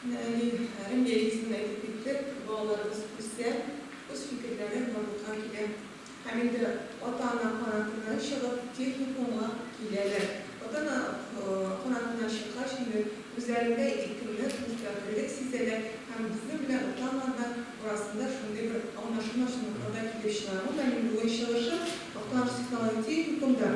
Әни, Рәмия исемен дә әйтеп киттек, балаларыбыз үсә, үз фикерләре барлыкка килә һәм инде ата-ана канатыннан чыгып, техникумга киләләр. Ата-ана канатыннан чыккач, инде үзләрендә иркенлек, мөстәкыйльлек сизәләр һәм безнең белән ата-аналар да арасында шундый бер аңлашылмаучанлыклар да килеп чыга. Бүген чыгышым Актаныш технологик техникумда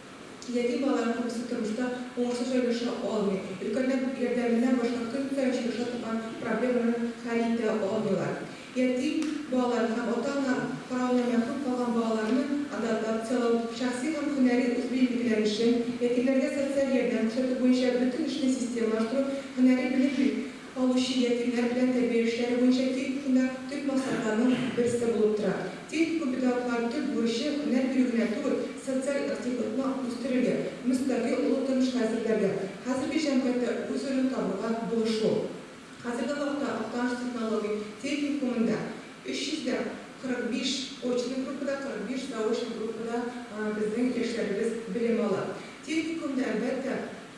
Яки балалар күбесе тормышта уңышлы җайлаша алмый, өлкәннәр ярдәменнән башка көн саен очраша торган проблемаларны хәл итә алмыйлар. Ятим балаларны һәм ата-ана каравыннан мәхрүм калган балаларны адаптацияләү, шәхси һәм һөнәри үзбилгеләр өчен, ятимнәргә социаль ярдәм күрсәтү буенча бөтен эшне системалаштыру, һөнәри белем бирү, калучы ятимнәр белән тәрбия эшләре буенча техникумда төп максатларның берсе булып тора. Техникум педагоглары төп бурычы, һөнәр бирү генә түгел, социаль активлыкны үстерергә, мөстәкыйль олы тормышка әзерләргә, хәзерге җәмгыятьтә үз урынын табуга булышу. Хәзерге вакытта Актаныш технологик техникумында 345 очный группада, 45 заочный группада безнең яшьләребез белем ала. Техникумда, әлбәттә,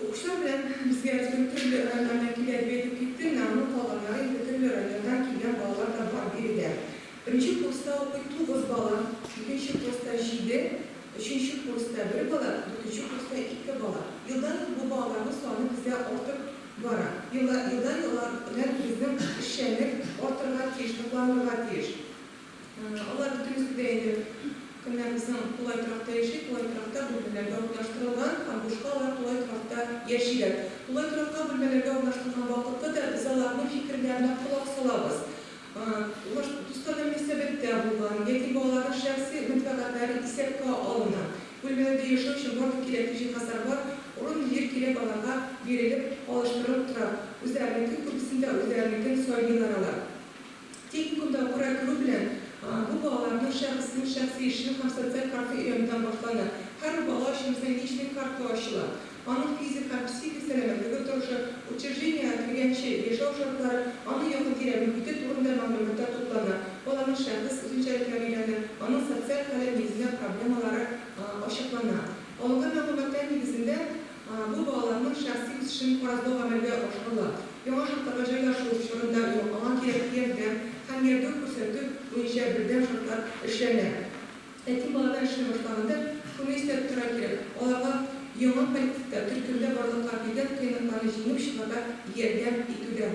Укучылар белән безгә Әзбер төрле районнардан килә дип әйтеп китте, менә аны калганнары инде төрле районнардан килгән балалар да бар биредә. Беренче курста укый тугыз бала, икенче курста җиде, өченче курста бер бала, дүртенче курста ике бала. Елдан-ел бу балаларның саны бездә артып бара. Елдан-ел алар белән безнең эшчәнлек артырга тиеш, ныкланырга тиеш. Алар бөтенебез бит әйдә, кемнәребезнең тулай торакта яши, тулай торакта бүлмәләргә урнаштырылган һәм бушка алар тулай торакта яшиләр. Тулай торакка бүлмәләргә урнаштырган вакыты да без аларның фикерләренә колак салабыз. Алар дусларга мөнәсәбәттә булган яки балаларның шәхси мәнфәгатьләре исәпкә алына. Бүлмәләрдә яшәү өчен барлык кирәкле җиһазлар бар, урын-җир кирәк аларга бирелеп, алыштырылып тора. Үзләренеке күбесендә үзләренекен сайлыйлар алар. Техникумда курай күрү белән, бу балаларның шәхеснең шәхси эшлек һәм социаль карты өйрәнүдән башлана. Һәрбер бала өчен безнең личный карта ачыла. Аның физик һәм психик сәламәтлеге торышы, учреждениегә кергәнче яшәү шартлары, аның якын тирә мөхите турында мәгълүматлар туплана, баланың шәхес үзенчәлекләре өйрәнә, аның социаль хәле нигезендә проблемалары ачыклана. Алынган мәгълүматлар нигезендә, Бу балаларның шәхси үсешен караклау гамәлгә ашырыла. Яңа шартларга җайлашу чорында аңа кирәкле ярдәм һәм ярдәм күрсәтү буенча бердәм шартлар эшләнә. Ятим балалар эшли башлаганда шуны истә тотырга кирәк, аларга яңа коллективта, төркемдә барлыкка килгән кыенлыкларны җиңеп чыгарга ярдәм итүдә.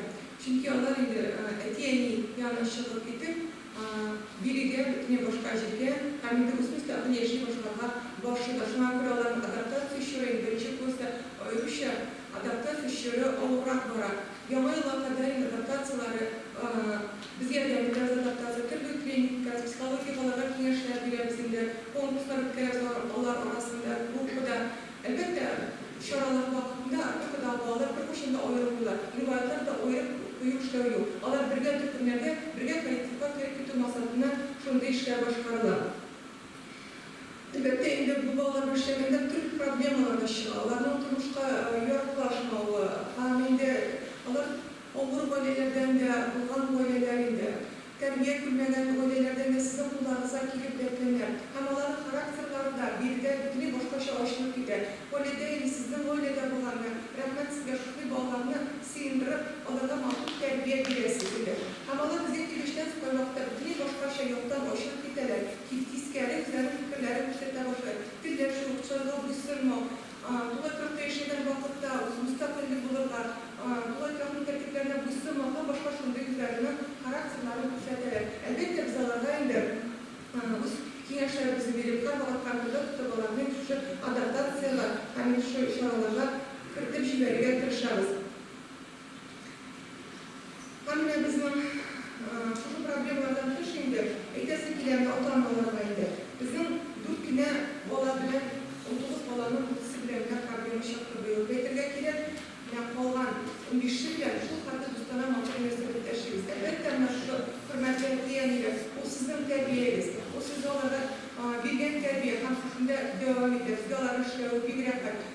Чөнки алар инде әти-әни яныннан чыгып китеп, А, бирегә, бөтенләй башка җиргә, һәм инде үз-үз тагын яши башларга барышы да. Шуңа күрә аларның адаптация чоры инде беренче класста аеруча адаптация чоры авыррак бара. Яңа елга кадәр инде адаптацияләре, а, без ярдәм итәбез адаптация, төрле тренингка, психологик аларга киңәшләр бирәбез инде, конкурслар үткәрәбез алар, алар арасында, группада. Әлбәттә, чаралар вакытында төрле дәгъвалар бер кайчан да аерылмыйлар, риваятьләр дә аерып кую эшләү юк. Алар бергә төркемнәргә, бергә коллективка кереп китү максатыннан шундый эшләр башкарыла. Әлбәттә инде, бу балалар бүлчәгендә төрле проблемалар да чыга, аларның тормышка яраклашмавы һәм инде алар авыр гаиләләрдән дә булган гаиләләр инде. Тәрбия күрмәгән гаиләләрдә менә сезнең кулларыгызга килеп дәртләнә һәм аларның характерлары да, биредә бөтенләй башкача ачылып китә. Коля Дейли сезнең гаиләдә булганны, рәхмәт сезгә, шушындый балаларны сыендырып, аларга махсус тәрбия бирәсез, диде. Һәм алар безгә килүчедән соң кайвакытта бөтенләй башкача яктан ачылып китәләр, тискәре, үзләренең фикерләрен күрсәтә башлыйлар, телләшү, кочаклау, буйсынмау, Тулай кырыкта яшәгән вакытта үзе мөстәкыйль булырга, тулай канун тәртипләренә буйсынмаска, башка шундый үзләренең характерларын күрсәтәләр. Әлбәттә, без аларга инде үз киңәшләребезне биреп, һәрвакыт контрольдә тотып, аларны инде шушы адаптациягә һәм инде шушы чараларга кертеп җибәрергә тырышабыз. Камилә, безнең шушы проблемалардан тыш инде әйтәсе килә анда ата-аналарга инде. Безнең дүрт кенә бала белән унтугыз баланың күбесе белән генә проблема чыкты быел дип әйтергә кирәк. Менә калган унбише белән шулхәтле дустанә матур мөнәсәбәттә яшибез. Әлбәттә, менә шушы хөрмәтле әти-әниләр, ул сезнең тәрбиягез, ул сезгә алардан биргән тәрбия һәм сезнең дә дәвам итәсез дә аларның эшләве бик рәхәт.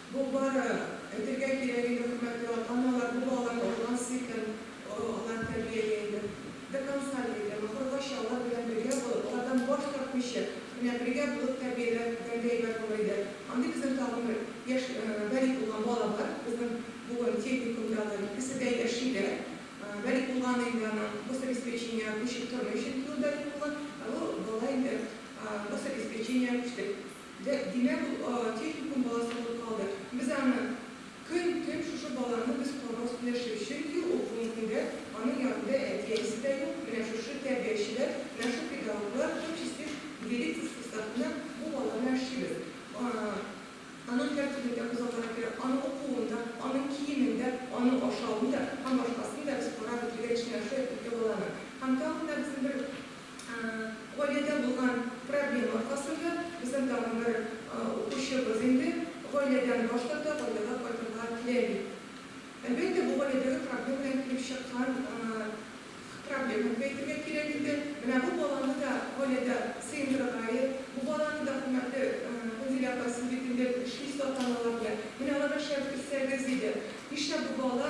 Бу бары, әйтергә кирәк иде, хөрмәтле ата-аналар, бу алар алган сөтем, алар тәрбияли инде. До конца диде, ахыргача алар белән бергә булып, алардан баш тартмыйча, менә бергә булып тәрбияләгәнгә әйбәт булыр иде. Андый безнең тагын бер яшь балигъ булган бала бар, безнең бүген техникумда алар икесе дә яшиләр. Балигъ булган инде, аның гособеспечение күчеп тормый, чөнки ул балигъ булган, ә бу бала инде гособеспечение күчте. Димәк, ул техникум баласы булып калды. Без аны көн-төн шушы баланы без карау сөйләшик, чөнки ул бүгенге көндә аның янында әти-әнисе дә юк, менә шушы тәрбиячеләр, менә шул педагоглар, һәм чистиш директор составында бу бала белән эшлибез. Аның һәр төрле дә күзалларга кирәк, аның укуын да, аның киемен дә, аның ашавын да һәм башкасын да без карап бетергән өчен, менә шул әти-әнигә баланы. Һәм тагын да безнең бер Гаиләдә булган проблема аркасында безнең тагын бер укучыбыз инде гаиләдән баш тарта, гаиләгә кайтырга теләми. Әлбәттә, бу гаиләдәге проблемадан килеп чыккан проблема дип әйтергә кирәк инде. Менә бу баланы да гаиләдә сыендырырга я бу баланы да, хөрмәтле Гүнзилә апа, сез бит инде эшлисез ата-аналар белән, менә аларга шәп итсәгез иде. Нишләп бу бала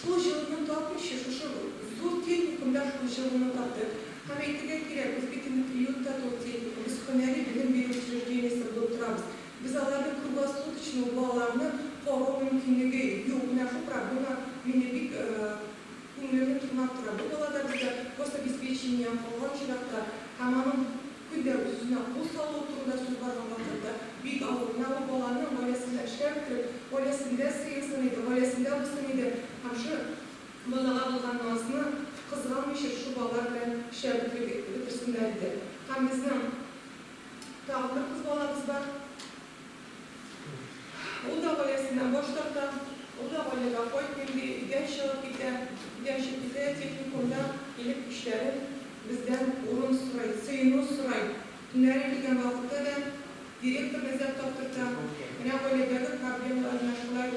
Шул җылыны тапмыйча, шушы зур техникумда шул җылыны татып һәм, әйтергә кирәк, без бит инде приютта түгел, техникум, без һөнәри белем бирү учреждениесендә булып торабыз. Без аларны круглосуточно, ул балаларны карау мөмкинлеге юк. Менә шул проблема мине бик күңелемне тырнап тора. Бу бала да безгә гособеспечениедән калган чиракта һәм аның, Күлдән тузына кул салуы турында сүз барган вакытта, бик авыр, менә ул баланың гаиләсендә эшләр бетереп, гаиләсендә сыенсын иде, гаиләсендә булсын иде һәм шул балага булган назны кызганмыйча шул бала белән эшләр бетереп бетерсеннәр иде. Һәм безнең тагын бер кыз балабыз бар. Ул да гаиләсеннән баш тарта, ул да гаиләгә кайтмыйм ди, өйдән чыгып китә. Өйдән чыгып китсә дә, техникумда килеп эшләрен, бездән урын сорый, сыену сорый. Төннәрен килгән вакытта да директорны эзләп таптырта. Менә гаиләдәге проблемалар менә шулай.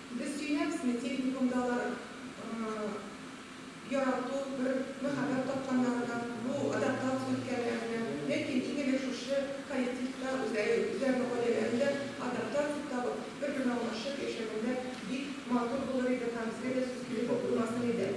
Без сөйләмсме техникумдагылар ярату, бер мәхәббәт тапканнарына, бу адаптация үткәннәренә, ләкин иң элек шушы коллективта үзләренең гаиләләрендә адаптация табып, бер-берен аңлашып яшәгәндә бик матур булыр иде һәм безгә дә сүз килерлек булмас иде.